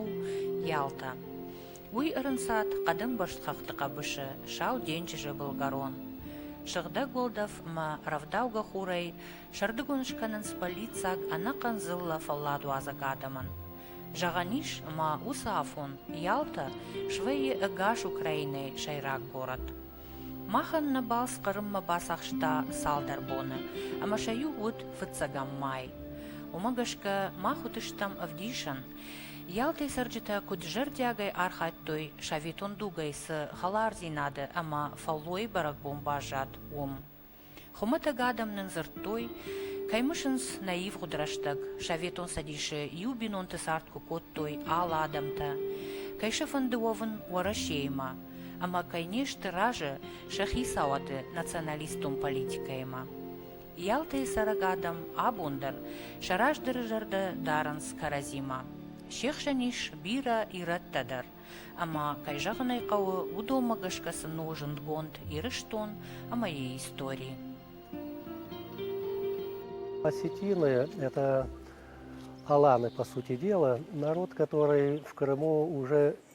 у Ялта. Уый ӕрынцад хъӕдӕмбӕрзт хӕхты хъӕбысы Сау денджызы былгӕрон. Сыгъдӕг уӕлдӕф ӕмӕ рӕвдаугӕ хурӕй сӕрдыгон скӕнынц бӕллиццаг ӕнӕхъӕн дзыллӕ фӕлладуадзӕг адӕмӕн. Зӕгъӕн ис, ӕмӕ уыцы афон Ялта свӕййы ӕгас Украинӕйы сӕйраг горӕт. Махӕн нӕ балц Хъырыммӕ бацахста цалдӕр боны, ӕмӕ сӕ иу уыд фыццӕгӕм май. Уымӕ гӕсгӕ мах уыдыстӕм ӕвдисӕн Ялтӕй цӕрджытӕ куыд зӕрдиагӕй архайдтой, советон дугӕй цы хӕлардзинады ӕмӕ фӕллойы бӕрӕгбон баззад, уым. Хуымӕтӕг адӕм нын дзырдтой, кӕй мысынц нӕ ивгъуыд рӕстӕг. Советон Цӕдисы иу бинонты цард куы кодтой алы адӕмтӕ, кӕй сӕ фӕнды уӕвын Уӕрӕсеимӕ ӕмӕ кӕй не сты разы сӕ хицауады националистон политикӕимӕ. Ялтайы цӕрӕг адӕм абон дӕр сӕ раздӕры зӕрдӕ дарынц кӕрӕдзимӕ. Се хсӕн ис бирӕ ирӕттӕ дӕр, ӕмӕ, кӕй зӕгъын ӕй хъӕуы, уыдонмӕ гӕсгӕ сын у зындгонд Ирыстон ӕмӕ йӕ истори. Осетины – это Аланы, по сути дела, народ, который в Крыму уже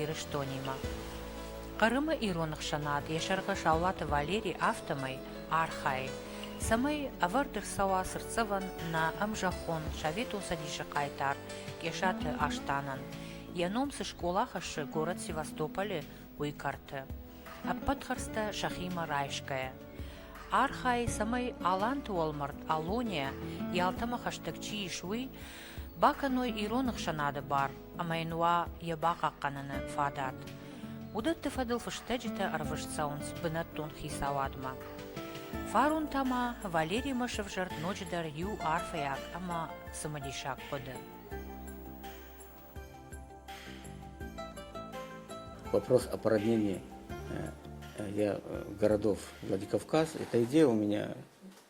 Ирыстонимӕ. Хъырымы ирон ӕхсӕнад йӕ сӕргъы Саулаты Валери афтӕмӕй архайы, цӕмӕй ӕвӕрд ӕрцӕуа цыртдзӕвӕн нӕ ӕмзӕххон Советон Цӕдисы хъайтар Къесаты Астанӕн, йӕ ном цы скъола хӕссы город Севастополь-ы, уый кӕрты, ӕппӕт хӕрдзтӕ сӕхимӕ райсгӕйӕ. Архайы, цӕмӕй Аланты уӕлмӕрд Алония, Ялтӕмӕ хӕстӕг чи ис, уый бакӕной ирон ӕхсӕнады бар ӕмӕ йын уа йӕ бахъахъхъӕныны фадат. Уыдӕтты фӕдыл фыстӕджытӕ ӕрвыст цӕуынц бынӕттон хицауадмӕ. Фарон та ма Валеримӕ сӕвзӕрд ноджыдӕр иу арфӕйаг ӕмӕ цымыдисаг хъуыды. Вопрос о параднении городов Владикавказ. Эта идея у меня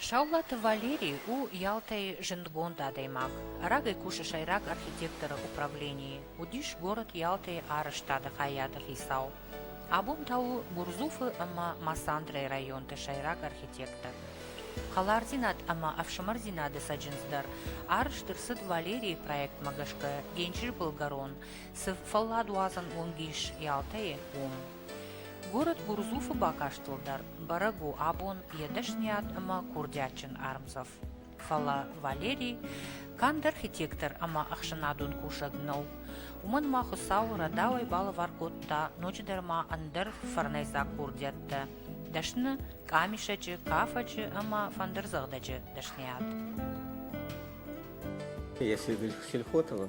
Саулаты Валерий у Ялтӕйы зындгонд адӕймаг. Рагӕй кусы сӕйраг архитекторы управленийы. Уыдис город Ялтӕйы арӕзтады хайады хицау. Абон та у Гурдзуфы ӕмӕ Масандрайы районты сӕйраг архитектор. Хӕлардзинад ӕмӕ ӕфсымӕрдзинады цӕджындз дӕр арӕзт ӕрцыд Валерийы проектмӕ гӕсгӕ Денджызы былгӕрон, цы фӕлладуадзӕн уынг ис Ялтӕйы, уым. Город Гурдзуфы бакастыл дӕр бӕрӕг у абон йӕ дӕсныйад ӕмӕ курдиатджын ӕрмдзӕф, фӕлӕ Валерий канд архитектор ӕмӕ ӕхсӕнадон кусӕг нӕу, уымӕн ма Хуыцауы рӕдауӕй балӕвар кодта ноджыдӕр ма ӕндӕр фӕрнӕйдзаг курдиӕттӕ дӕсны къамисӕджы, кафӕджы ӕмӕ фӕндырдзӕгъдӕджы дӕсныйад. Если сельхотова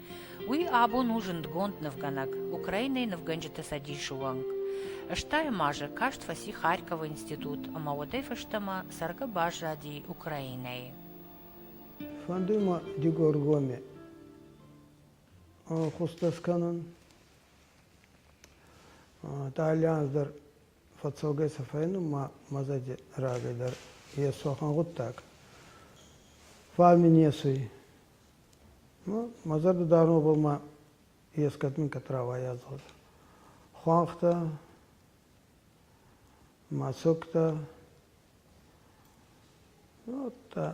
Уый абон у зындгонд нывгӕнӕг, Украинайы нывгӕнджыты цӕдисы уӕнг. Стайм азы каст фӕци Харьковы институт ӕмӕ уӕдӕй фӕстӕмӕ цӕргӕ баззади Украинайы. Фӕнды мӕ Дигоргоме хъуыддӕг скӕнын. Та альянс дӕр Фӕццӕугӕ сӕ фӕйнунмӕ мӕдзӕди рагӕй дӕр Йесохӕн гъуддаг. Фал мин есуй. Мӕ зӕрдӕ дарун обаумӕ ескӕд минкӕд рауайадзуӕдӕ. Хуӕнхтӕ, мӕсугтӕ, ну, удта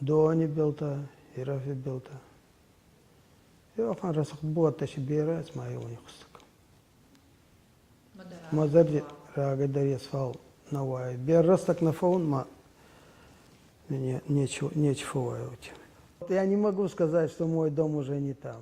Доони билтӕ, Ирӕфи билтӕ. Еуӕфӕн рӕсугъд буӕттӕ си берӕ ӕма еуони хуссӕг. Ма зӕрди рагӕйдӕр ес, фал нӕ уайуй. Беррӕстӕг нӕ фӕуун, ма нечи фӕуайуй. Я не могу сказать, что мой дом уже не там.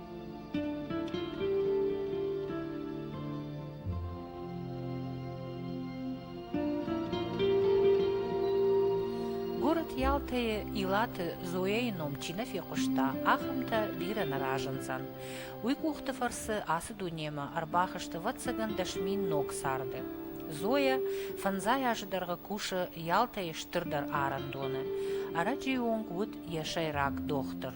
Город Ялтӕйы Илаты Зояйы ном чи нӕ фехъуыста, ахӕмтӕ бирӕ нӕ разындзӕн. Уый къухты фӕрцы ацы дунемӕ ӕрбахызты вӕццӕгӕн дӕсмин ног царды. Зоя фӕндзай азы дӕргъы кусы Ялтӕйы стырдӕр арӕндоны. Ӕрӕджыйы онг уыд йӕ сӕйраг дохтыр.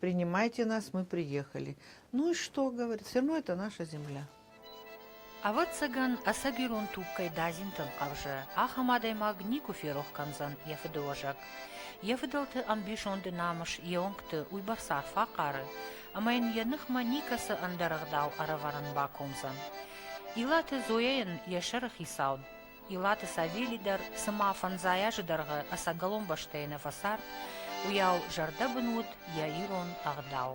принимайте нас, мы приехали. Ну и что, говорит, все равно это наша земля. Ӕвӕццӕгӕн, ӕцӕгирон туг кӕй дадзинтӕн хъӕвзы, ахӕм адӕймаг никуы ферох кӕндзӕн йӕ фыдыуӕзӕг. Йӕ фыдӕлты ӕмбисонды намыс йе уынгты уыйбӕрц арф фӕхъары, ӕмӕ йын йӕ ныхмӕ никӕцы ӕндӕр ӕгъдау ӕрӕвӕрын бакомдзӕн. Илаты Зояйӕн йӕ сӕры хицауд Илаты Савели дӕр, цыма фӕндзай азы дӕргъы ӕцӕгӕлон бӕстӕйы нӕ фӕцард, уыйау зӕрдӕбын уыд йӕ ирон ӕгъдау.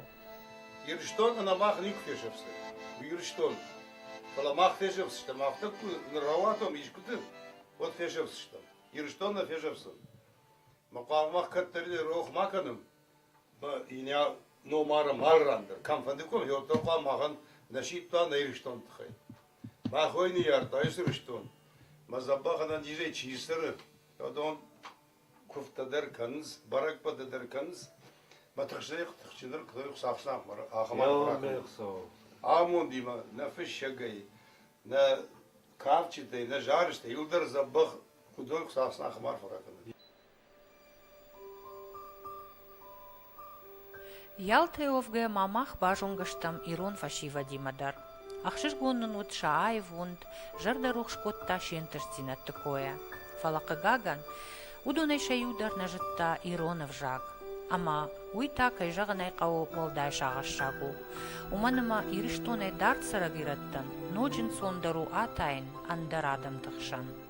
Ирыстон ӕнӕмах никуы фесӕфдзӕн, уый Ирыстон. Фӕлӕ мах фесӕфдзыстӕм, афтӕ куы ныр рауатӕм искуыты, уӕд фесӕфдзыстӕм. Ирыстон нӕ фесӕфдзӕн. Мы хъуамӕ мах кӕддӕриддӕр рох ма кӕнӕм, мӕ Иня номары мӕл ран дӕр кӕмфӕндыкъон, уӕд дӕр хъуамӕ махӕн нӕ сидта нӕ Ирыстоны тыххӕй. Мӕ хойы ныййардта ацы рыстон, мӕ дзӕбӕхӕнӕн низӕй чи ссары, уыдон куывдтӕ дӕр кӕнынц, бӕрӕгбӕттӕ дӕр кӕнынц. Мӕ тыхстӕй тыхджындӕр куыдтой Хуыцауфснахмӕ ахӕм аргъ ракӕнын. Амондимӕ, нӕ фыссӕгӕй, нӕ кадджытӕй, нӕ зарджытӕй иу дӕр дзӕбӕх уыдон Хуыцауфснахмӕ арф ракӕнын. Ялтӕ уӕвгӕ ма мах базонгӕ стӕм ирон фӕсивӕдимӕ дӕр. Ӕхсызгон нын уыд сӕ аивонд, зӕрдӕрухс кодта се ӕнтыстдзинӕдты койӕ. Фӕлӕ, хъыгагӕн, уыдонӕй сӕ иу дӕр нӕ зыдта ирон ӕвзаг. Ӕмӕ уый та, кӕй зӕгъын ӕй хъӕуы, уӕлдай сагъӕссаг у. Уымӕн ӕмӕ Ирыстонӕй дард цӕрӕг ирӕттӕн ноджы ӕнцондӕр у атайын ӕндӕр адӕмты хсӕн.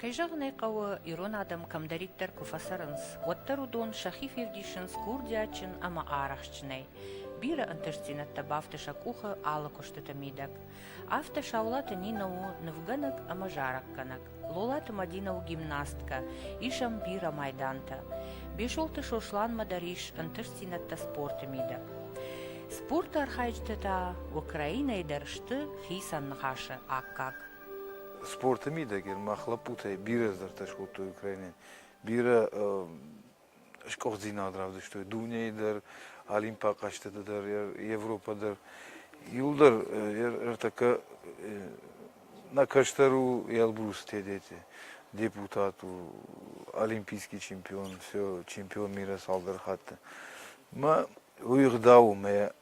Кӕй зӕгъын ӕй хъӕуы, ирон адӕм кӕмдӕриддӕр куы фӕцӕрынц, уӕддӕр уыдон сӕхи февдисынц курдиатджын ӕмӕ арӕхстджынӕй, бирӕ ӕнтыстдзинӕдтӕ бафты сӕ къухы алы куыстыты мидӕг. Афтӕ Саулаты Нинӕ у нывгӕнӕг ӕмӕ зарӕггӕнӕг, Лолаты Мадинӕ у гимнасткӕ, ис ӕм бирӕ майдантӕ. Бесолты Сосланмӕ дӕр ис ӕнтыстдзинӕдтӕ спорты мидӕг. Спорты архайджытӕ та Украинӕйы дӕр сты хицӕн ныхасы аккаг. спорты мидӕгер мах лӕппутӕй бирӕ здӕртӕ скодтой Украинӕн, бирӕ скъухдзинад равдыстой дунейы дӕр, Олимпа хъӕзтыты дӕр, Европа дӕр. Иуыл дӕр ӕртӕккӕ на кӕстӕр у Элбрус Тедети, депутат у, олимпийский чемпион, все, чемпион мира цалдӕр хатты. Мӕ уый гъдау у мӕ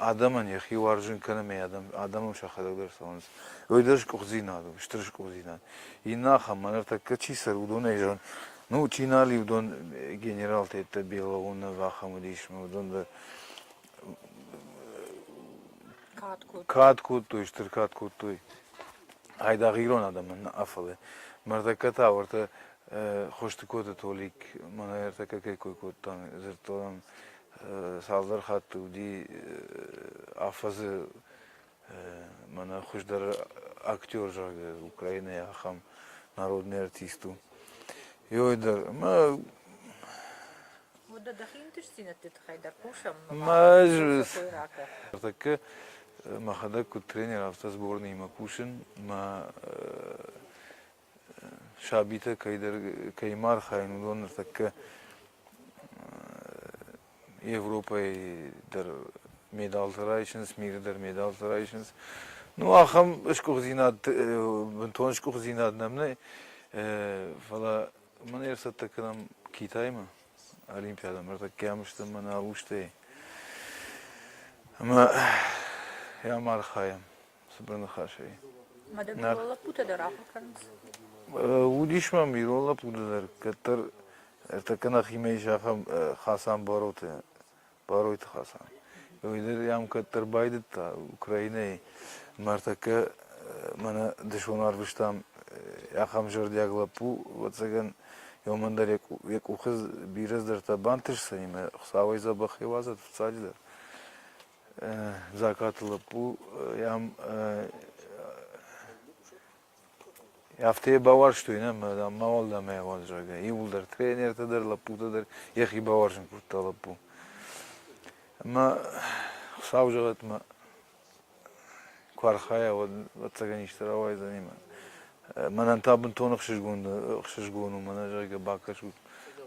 адӕмӕн йӕхи уарзын кӕнынмӕ адӕмон сӕхӕдӕг дӕр цӕуынц. Уый дӕр скъуыддзинад у, стыр скъуыддзинад. Иннӕ ахӕм ныртӕккӕ чи цӕры, уыдонӕй зӕгъын, ну, чи нал и, уыдон генералтӕ йеддӕ Белоунов ахӕм уыдис, уыдон дӕр кад кодтой, стыр кад кодтой айдагъ ирон адӕмӕн нӕ фӕлӕ. Мӕрдӕггӕ та ӕртӕ Хостыкоты Толик мӕнӕ ӕртӕккӕ кӕй кой кодта, дзырдтон цалдӕр хатты уыди афӕдзы мӕнӕ хуыздӕр актер, зӕгъгӕ, Украинайы ахӕм народный артист у. Йой дӕр. Мӕ Мыдда дӕхи ӕнтыстдзинӕдты тыххӕй дӕр кусӕм. Тӕккӕ мӕхӕдӕг куыд тренер, афтӕ сборныимӕ кусын мӕ сабитӕ кӕй ма архайын, уыдон ныртӕккӕ Европӕйы дӕр медалтӕ райсынц, миры дӕр медалтӕ райсынц. Ну, ахӕм сгуыхтдзинад, бынтон сгуыхтдзинад нӕм нӕй, фӕлӕ мӕн ӕрцӕттӕ кӕнӕм Китаймӕ, Олимпиадӕмӕ, ӕртӕккӕ ам стӕм мӕнӕ Алустӕй. Ӕмӕ йӕм архайӕм. цыбыр ныхасӕй. Мадӕг ирон лӕппутӕ дӕр ахуыр кӕнынц? Уыдис мӕм ирон лӕппуты дӕр, кӕддӕр ӕртӕккӕ нӕхимӕ ис ахӕм Хасан Бароты, Баройты Хасан. Уый дӕр йӕм кӕддӕр байдыдта Украинӕйы мӕ ӕртӕккӕ мӕнӕ дысон арвыстам ахӕм зӕрдиаг лӕппу, ӕвӕццӕгӕн иомӕн дӕр йӕ къухы бирӕ дӕртӕ бантысдзӕни мӕ Хуыцауӕй дзӕбӕх йӕ уадзӕт фыццаджыдӕр. Закъаты лӕппу йӕм афтӕ йӕ бауарзтой, нӕ мӕ уӕлдӕмӕй зӕгъгӕ, иууылдӕр тренертӕ дӕр, лӕппутӕ дӕр йӕхи бауарзын кодта лӕппу. Ӕмӕ Хуыцау зӕгъӕт мӕ Куы архайа, уӕд ӕцӕгӕн исты рауайдзӕни мӕ. Мӕнӕн та бынтон ӕхсызгон ӕхсызгон у мӕнӕ, зӕгъгӕ, бакӕсут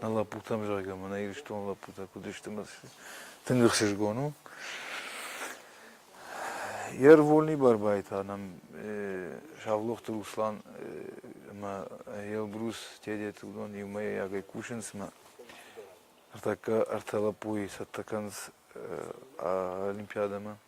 нӕ лӕппутӕм, зӕгъгӕ, мӕнӕ Ирыстоны лӕппутӕ куыд сты, мӕ тынг ӕхсызгон у. Йе рвыльный бӕрбайы та нӕм Савлохты Руслан ӕмӕ Елбрус Тедеты уыдон иумӕйагӕй кусынц мӕ ӕртӕккӕ ӕртӕ лӕппуйы цӕттӕ кӕнынц олимпиадӕмӕ.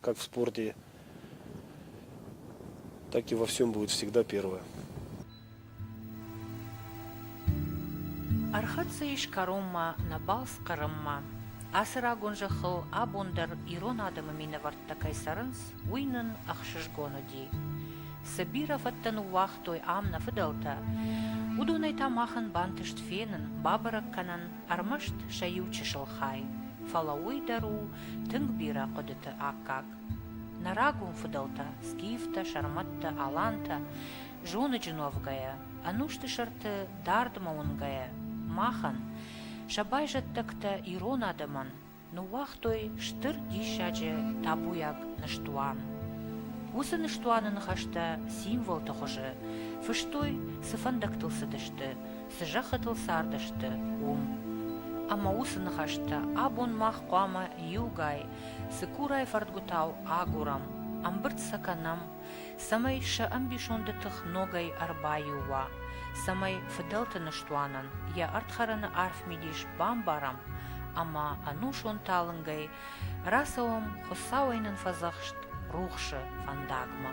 как в спорте, так и во всем будет всегда первое. Ӕрхӕццӕ ис кӕронмӕ нӕ балц Хъырыммӕ. Ацы рагон зӕххыл абон дӕр ирон адӕмы минӕвӕрттӕ кӕй цӕрынц, уый нын ӕхсызгон уыди. Цы бирӕ фӕдтӕ ныууагътой ам нӕ фыдӕлтӕ, уыдонӕй та махӕн бантыст фенын, бабӕрӕг кӕнын ӕрмӕст сӕ иу чысыл хай, фӕлӕ уый дӕр у тынг бирӕ хъуыдыты аккаг. Нӕ рагон фыдӕлтӕ, скифтӕ, сӕрмӕттӕ, алантӕ, зоныджы нуӕвгӕйӕ, ӕнусты сӕрты дардмӕ уынгӕйӕ, махӕн, сӕ байзӕддӕгтӕ ирон адӕмӕн, Ныууагътой стыр диссаджы табуйаг ныстуан. Уыцы ныстуаны ныхӕстӕ символты хуызы фыстой, цы фӕндӕгтыл цыдысты, цы зӕххытыл цардысты, уым. Ӕмӕ уыцы ныхӕстӕ абон мах хъуамӕ иугай, цыкурайы фӕрдгуытау агурӕм, ӕмбырд сӕ кӕнӕм цӕмӕй сӕ ӕмбисонды тых ногӕй ӕрбаиу уа, цӕмӕй фыдӕлты ныстуанӕн йӕ ӕрдхӕрӕны арф мидис бамбарӕм ӕмӕ ӕнусон талынгӕй рацӕуӕм Хуыцауӕй нын фӕдзӕхст рухсы фӕндагмӕ.